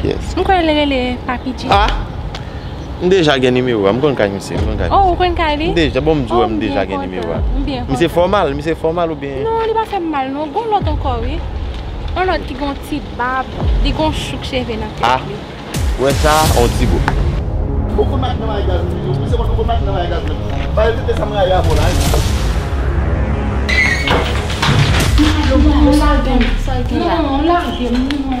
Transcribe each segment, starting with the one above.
Pyès. M kwè li rele Papi G. Ah! M deja gen nimewo a. M konn kay misye. Oh, ou konn kay li? M deja, bon m di w m deja gen nimewo a. M byen kontan. Misye fè w mal? Misye fè w mal oubyen? Non, li pa fè m mal non. Gon lòt ankò wi. On lòt ki gon ti bab. Li gon chouk cheve nan tèt li. Ah! Ou wè sa a? On ti bouch. Ou konn mache nan bagay gaz wi. Ou se moun ki konn mache nan bagay gaz menm. Ba yo tete sa m rayi avè w la wi. Yo pran m yo lage m. Sa yo gen la? Non, lage m.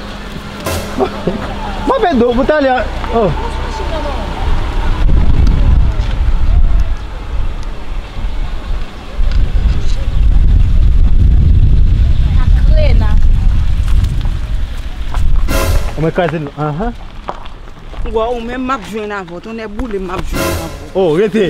Mwen pe do pou talè oh. Ou mwen kraze dlo an. Ou menm map jwenn avèw tonnè boulem map jwenn avèw. Oh rete.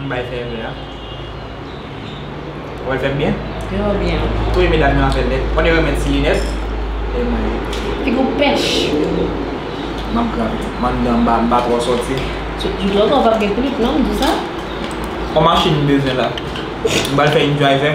M bay fè vè a. Ou wè l fèt byen? Yo wè byen wi. Tou 2 medam yo afè nèt. One yo met ti linèt. E mwen wi. Fi gou pèch wi. M ap grape. M anndan m pa twò sòti. Jouk lòt ou pap gen klip non m di sa. On machin m bezwen la. M pral fè yn dry vè.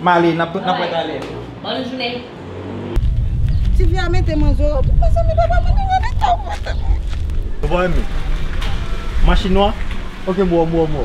M ale, n ap wè talè. Bòn jounen. Tifi a mete manzè a tou mezanmi papa mwen nan leta ou mwen tande. Ou pa renmen machin nwa ok boo m wè w.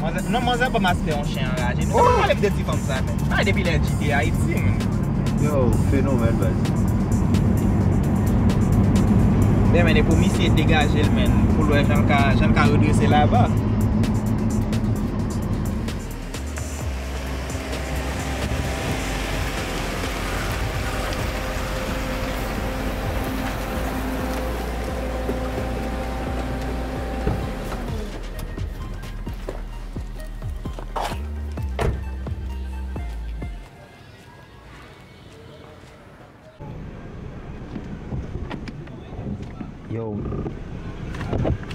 Manzè, non manzè banm aspè yon chen anraje nou pa pale m de ti fanm sa menm. Sa depi lè Dji te Ayiti menm. Yo fenomèn baz. Mwen mène pou misye degajel menn poul wè janl ka janl ka redrese laba.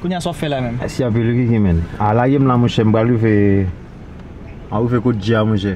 Kounya sa w ap fè la menm? Mèsi anpil Ricky men. A lage m la monchè m pral rive m pral rive kot Djia monchè.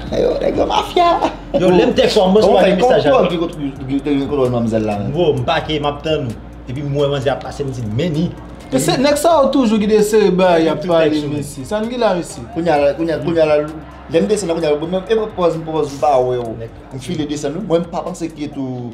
Yo nèg yo mafya. Yo lèm tèks ou a m resevwa de mesaj a. Koman fè yon nèg ki te gen kontwòl manmzèl la menm. Bro m pake map tann ou. Epi m wè manzè ap pase m di men ni. Se nèg sa yo toujou ki te sere bagay yap pale mesye. Sa n gen la mesye. Kounya la kounya la lèm desann la kounya la e pòz m pa wè w. M file desann wi mwen m pa panse ke tou.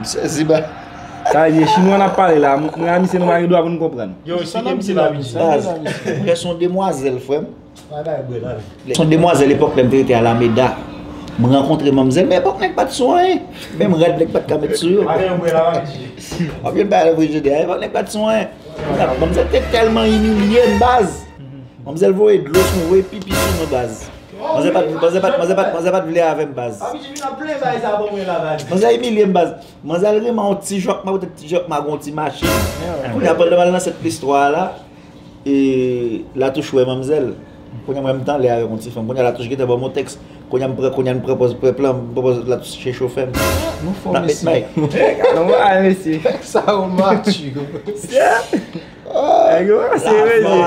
M sezi baz. Sa vle di e chinwa nap pale la, mwen a misye nou pa gen dwa pou nou konprann. Yo esplike misye la bgy. Baz, mwen son demwazèl frèm. Bagay bwe la vle. Son demwazèl epòk lèm te rete alameda. M rankontre manmzèl men epòk nèg pat sou anyen. Menm rad nèg pat ka met sou yo. Bagay yo bwe la bgy. Wap jwenn bagay yo bwe jodi a. Epòk nèg pat sou anyen. Manmzèl te tèlman imilyem baz. Manmzèl voye dlo sou mwen, voye pipi sou mwen baz. Manzè pat vle manzè pat manzè pat manzè pat vle avèm baz. Papi Jimmy nan plen bay sa pou mwen la baz. Manzè imilye m baz. Manzè al reman yon ti jòkma poutèt ti jòkma gon ti machin. Kounye a pandan map nan sèt plis 3 a la e Latouch wè manmzèl. Kounye a mwen m tanlè avèk yon ti fanm. Kounye a Latouch gentan banm yon tèks. Kounye a m pran kounye a m pran pòz pèp lan m pran pòz Latouch se chofè m. Nou fò mesye. Nou fò mesye. Sa yo mature. Nèg yo se mesye.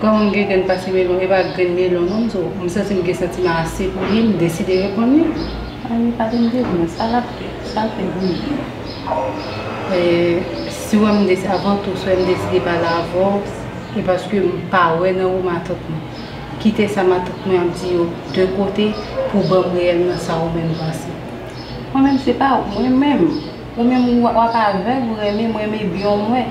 Kòm m gen grenn pase melon, e pa grenn melon non m di w, m santi m gen santiman ase pou li, m deside reponn li. An li pa di m dil pran, sa l ap fè, sa l fè byen. Si w wè m deside, avan tou, si w wè m deside pale avè w, se paske m pa wè nan ou matant mwen. Kite sa matant mwen ap di yo de kote pou w ban m reyèlman sa ou menm panse. Mwen menm se pa ou, mwen menm, ou menm w ap avèg, ou renmen, m renmen byon mwen.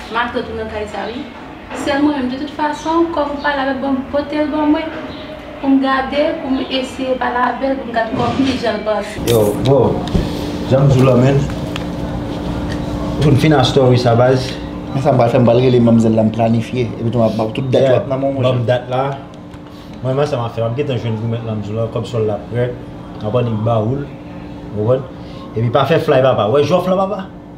Matant ou nan kay sa wi. Sèl mwen menm de tout fason kòm ou pale avèl banm potel ban mwen poum gade poum eseye pale avèl poum gad kòm ki janl panse. Yo bro janm diw la menn Pou n fin a story sa baz. Men sa m pral fè m pral rele manmzèl la m planifye epi tou map baw tout dat yo ap nan menw monchè. Yeah banm dat la Mwen menm sa map fè map gentan jwenn goumèt la m diw la kòb sòl la prè map annik bawoul ou konprann epi pa fè flay papa wè jòf la papa.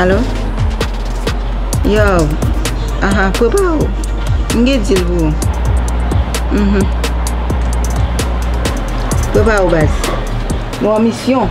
Alo? Yow, aha, prepare ou. M gen deal pou ou. Mhm. Prepare ou baz. Nou an misyon.